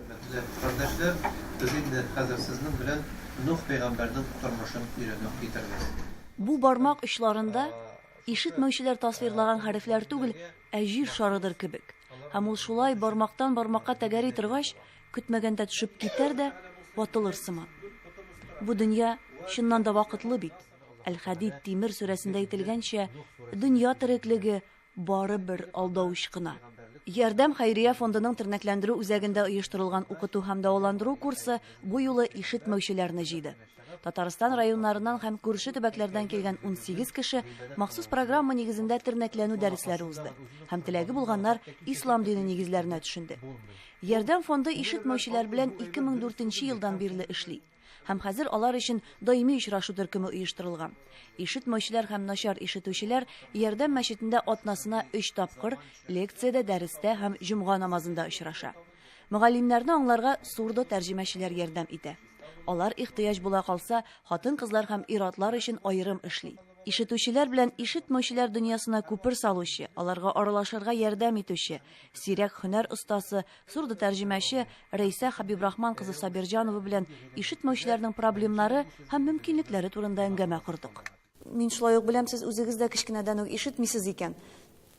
Хөрмәтле кардәшләр, без инде хәзер сезнең белән Нух пәйгамбәрнең тормышын өйрәнү китербез. Бу бармак очларында ишетмәүчеләр тасвирлаган хәрефләр түгел, ә җир шарыдыр кебек. Һәм ул шулай бармактан бармакка тәгәри торгач, көтмәгәндә төшеп китәр дә ватылыр сыман. Бу дөнья чыннан да вакытлы бит. Әл-Хәдид тимер сүрәсендә әйтелгәнчә, дөнья тереклеге Бары бер алдау очкына. Ярдәм хәйрия фондының тернәкләндерү үзәгендә оештырылган укыту һәм дәваландыру курсы бу юлы ишетмәүчеләрне җыйды. Татарстан районнарыннан һәм күрше төбәкләрдән килгән 18 кеше махсус программа нигезендә тернәкләнү дәресләре узды һәм теләге булганнар ислам дине нигезләренә төшенде. Ярдәм фонды ишетмәүчеләр белән 2004 елдан бирле эшли. Һәм хәзер алар өчен даими очрашу төркеме оештырылган. Ишетмәүчеләр һәм начар ишетүчеләр Ярдәм мәчетендә атнасына өч тапкыр лекциядә, дәрестә һәм җомга намазында очраша. Мөгаллимнәрне аңларга сурдо-тәрҗемәчеләр ярдәм итә. Алар ихтыяҗ була калса, хатын-кызлар һәм ир-атлар өчен аерым эшли. Ишетүчеләр белән ишетмәүчеләр дөньясына күпер салучы, аларга аралашырга ярдәм итүче, сирәк һөнәр остасы, Сурдо-тәрҗемәче Рәйсә Хабибрахман кызы Сабирҗанова белән ишетмәүчеләрнең проблемнары һәм мөмкинлекләре турында әңгәмә кордык. Мин шулай ук беләм, сез үзегез дә кечкенәдән үк ишетмисез икән.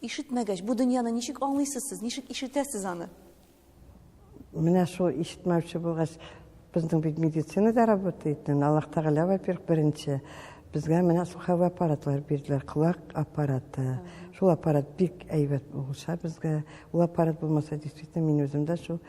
Ишетмәгәч, бу дөньяны ничек аңлыйсыз сез, ничек ишетәсез аны? Менә шул ишетмәүче булгач, Безнең бит медицинада работает, Аллаһ Тәгалә, во-первых, беренче. Безгә менә слуховой аппаратлар бирделәр, колак аппараты. Шул аппарат бик әйбәт булса безгә. Ул аппарат булмаса, действительно, мин үзем дә шул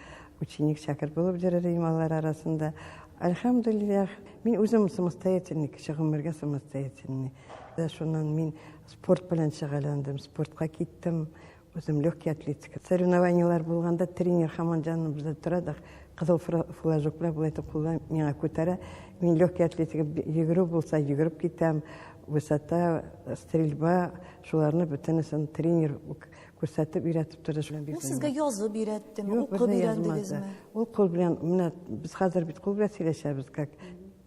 ученик шәкерт булып йөрер идем алар арасында. Альхамдулиллах, мин үзем самостоятельный кеше, гомергә самостоятельный. Шуннан мин спорт белән шөгыльләндем, спортка киттем. Үзем легкий атлетика. Соревнованиелар булганда тренер хаман җаныбызда тора да кызыл флажоклар болай итеп кулдан миңа күтәрә. Мин легкий атлетика йөгерү булса йөгереп китәм, высота, стрельба, шуларны бөтенесен тренер күрсәтеп өйрәтеп торды. Ул сезгә язып өйрәттеме, укып өйрәндегезме? Ул кул белән, менә без хәзер бит кул белән сөйләшәбез, как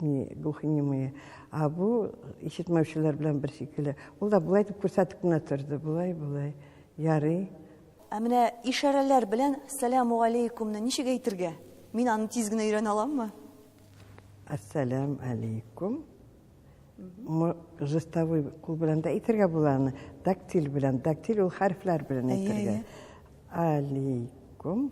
глухонемые. А бу ишетмәүчеләр белән бер шикелле. Ул да болай дип күрсәтеп кенә торды, болай, болай. Ярый. Ә менә ишарәләр белән сәләмугаләйкүмне ничек әйтергә? Мин аны тиз генә өйрәнә аламмы? Ассалам алейкум. Жестовой кул белән дә әйтергә була аны. Дактиль белән. Дактиль ул хәрефләр белән әйтергә. Алейкум.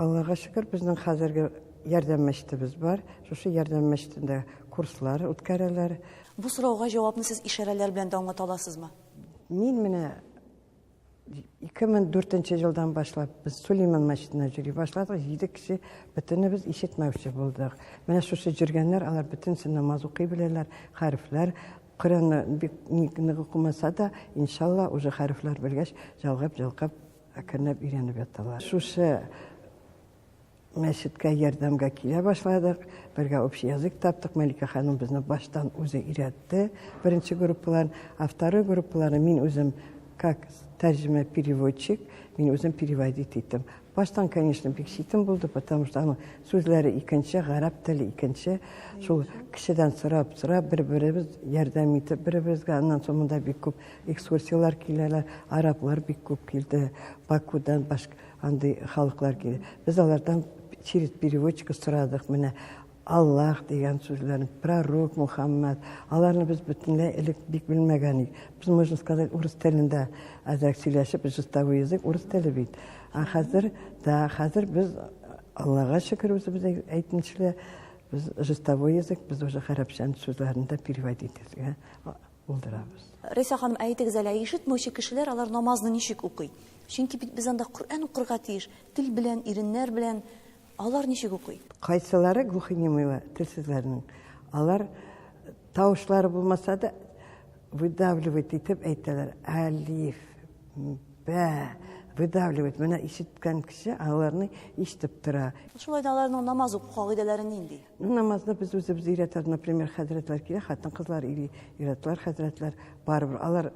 Аллага шөкер, безнең хәзерге ярдәм мәчетебез бар. Шушы ярдәм мәчетендә курслар үткәрәләр. Бу сорауга җавапны сез ишарәләр белән дә аңлата аласызмы? Мин менә 2004 елдан башлап без Сулейман мәчетенә йөри башладык. Җиде кеше бөтенебез ишетмәүче булдык. Менә шушы җөргәннәр, алар бөтенесе намаз укый беләләр, хәрефләр, Коръәнне бик нык укымаса да, иншалла, уже хәрефләр белгәч, җалгап-җалгап Әкренләп өйрәнеп яталар. Шушы мәчеткә ярдәмгә килә башладык. Бергә общий язык таптык. Мәликә ханым безне баштан үзе өйрәтте. Беренче группаларын, а второй группаларын мин үзем как тәрҗемә переводчик, мин үзем переводить иттем. Баштан, конечно, бик читен булды, потому что аның сүзләре икенче, гарәп теле икенче. Шул кешедән сорап, сорап, бер-беребез ярдәм итеп, бер-беребезгә аннан соң монда бик күп Экскурсияләр киләләр, араблар бик күп килде, Бакудан башка андый халыклар килде. Без алардан через переводчика сорадык, менә Аллах дигән сүзләрен, пророк Мухаммад, аларны без бөтенләй элек бик белмәгән идек. Без, можно сказать, урыс телендә әзрәк сөйләшеп, жестовый язык урыс теле бит. Ә хәзер, да, хәзер без Аллага шөкер үзебез әйтмешли, без жестовой язык, без уже гарәпчән сүзләрен дә переводить итәргә булдырабыз. Рәйсә ханым, ә әйтегез әле, ишетмәүче кешеләр алар намазны ничек укый? Чөнки бит без анда Коръән укырга тиеш, тел белән, иреннәр белән. Алар ничек укый? Кайсылары глухонемыйлар, телсезләрнең, алар тавышлары булмаса да, выдавливает итеп әйтәләр. Алиф, бә, выдавливает. Менә ишеткән кеше аларны ишетеп тора. Шулай да аларның намаз уку кагыйдәләре нинди? Намазны без үзебез өйрәтәбез, например, хәзрәтләр килә, хатын-кызлар или иратлар, хәзрәтләр барыбер. Алар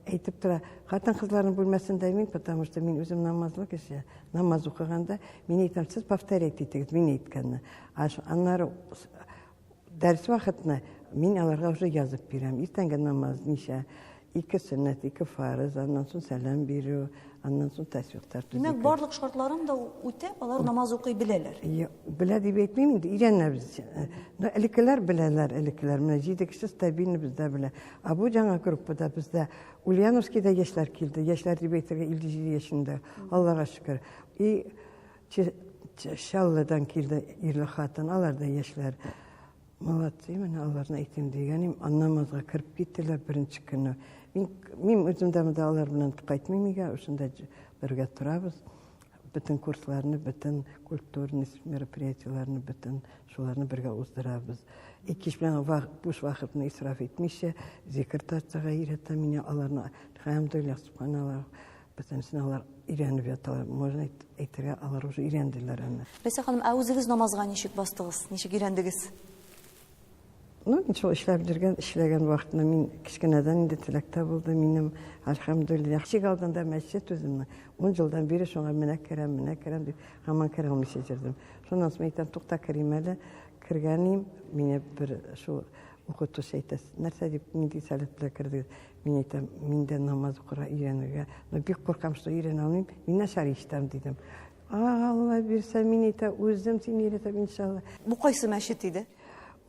әйтеп тора, хатын-кызларның бүлмәсендә мин, потому что мин үзем намазлы кеше. Намаз укыганда мин әйтәм, сез повторять итегез мин әйткәнне. Аннары дәрес вакытны мин аларга уже язып бирәм. Иртәнге намаз ничә, Ике сөннәт, ике фарыз, аннан соң сәлам бирү, аннан соң тәсбихтар төзү. Димәк, барлык шартларын да үтә, алар намаз укый беләләр. Белә дип әйтмим инде, өйрәнәбез. Но элеккеләр беләләр, элеккеләр. Менә җиде кеше стабильно бездә белә. А бу жаңа группада бездә Ульяновскийда яшьләр килде. Яшьләр дип әйтергә 57 яшендә. Аллага шөкер. И Чаллыдан килде ирле хатын, алар да яшьләр. Молодцы, мен аларны әйтем дигәнем, намазга кереп киттеләр беренче көнне. Мин, мин үзем дә монда алар белән кайтмыйм өйгә, шунда бергә торабыз. Бөтен курсларны, бөтен культурный мероприятиеләрне, бөтен шуларны бергә уздырабыз. Икеш белән вак, буш вакытны исраф итмичә, зикр тартырга өйрәтә мине аларны. Хәмдулилла, субханаллах. Бөтен сынаулар өйрәнеп яталар. Можно әйтергә, алар уже өйрәнделәр аны. Ләйсә ханым, ә үзегез намазга ничек бастыгыз? Ничек өйрәндегез? Ну, мин шул эшләп йөргән, эшләгән вакытны мин кечкенәдән инде теләктә булды минем, альхамдулиллах. Ишек алдында мәчет үземне. Ун елдан бире шуңа менә керәм, менә керәм дип, һаман керә алмыйча йөрдем. Шуннан соң әйтәм, тукта керим әле. Кергәнем, мине бер шул укытучы әйтә, нәрсә дип, нинди сәләт белән кердегез? Мин әйтәм, мин дә намаз укырга өйрәнергә, но бик куркам, что өйрәнә алмыйм, мин начар ишетәм, дидем. Алла бирсә, мин әйтә, үзем сине өйрәтәм, иншалла. Бу кайсы мәчет иде?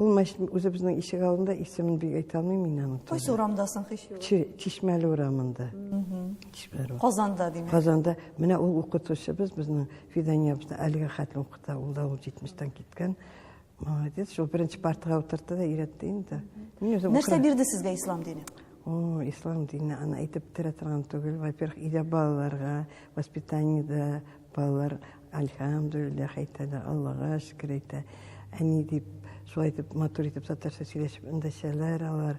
Ул мәчет үзе безнең ишек алдында, исемен бик әйтә алмыйм мин аның. Кайсы урамда соң һич юк? Чишмәле урамында. Чишмәле. Казанда димәк. Казанда. Менә ул укытучыбыз безнең Фиданиябезне әлегә хәтле укыта. Ул да ул 70 тан киткән. Молодец, шул беренче партага утыртты да өйрәтте инде. Мин үзем Нәрсә укырам. бирде сезгә ислам дине? О, ислам дине аны әйтеп бетерә торган түгел. Во-первых, өйдә балаларга воспитаниедә балалар альхамдулиллах әйтә дә, Аллага шөкер әйтә. Әни дип, шулай итеп матур итеп татарча сөйләшеп эндәшәләр алар.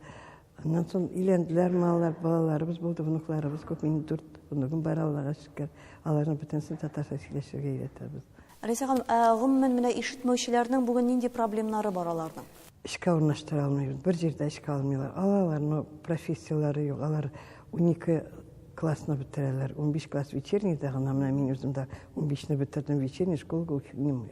Аннан соң өйләнделәр, маллар, балаларыбыз булды, внукларыбыз күп, минем дүрт внугым бар, Аллага шөкер. Аларның бөтенесен татарча сөйләшергә өйрәтәбез. Рәйсә ханым, ә гомумән менә ишетмәүчеләрнең бүген нинди проблемнары бар аларның? Эшкә урнаштыра алмыйбыз, бер җирдә эшкә алмыйлар. Алалар, но профессияләре юк. Алар унике классны бетерәләр, унбиш класс вечернийда гына, менә мин үзем дә унбишне бетердем, вечерний школага үтмим.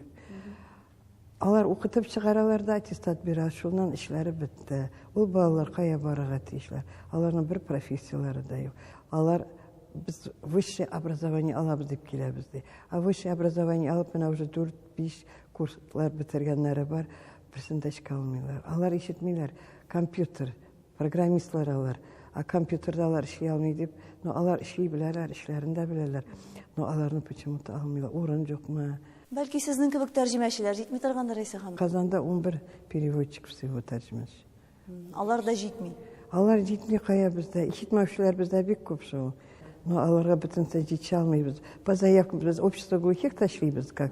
Алар укытып чыгаралар да аттестат бирә, шуннан эшләре бетте. Ул балалар кая барырга тиешләр? Аларның бер профессияләре дә юк. Алар без высшее образование алабыз дип киләбез ди. А высшее образование алып менә уже 4-5 курслар бетергәннәре бар, берсен дә эшкә алмыйлар. Алар ишетмиләр, компьютер Программистлар алар, а компьютерда алар эшли алмый дип, но алар эшли беләләр, эшләрен дә беләләр, но аларны почему-то алмыйлар, урын юкмы? Бәлки сезнең кебек тәрҗемәчеләр җитми торгандыр, Рәйсә ханым? Казанда 11 переводчик всего тәрҗемәче. Алар да җитми. Алар җитми кая бездә, ишетмәүчеләр бездә бик күп шул. Но аларга бөтенсә җитә алмыйбыз. По заявкам без общество глухих ташлыйбыз как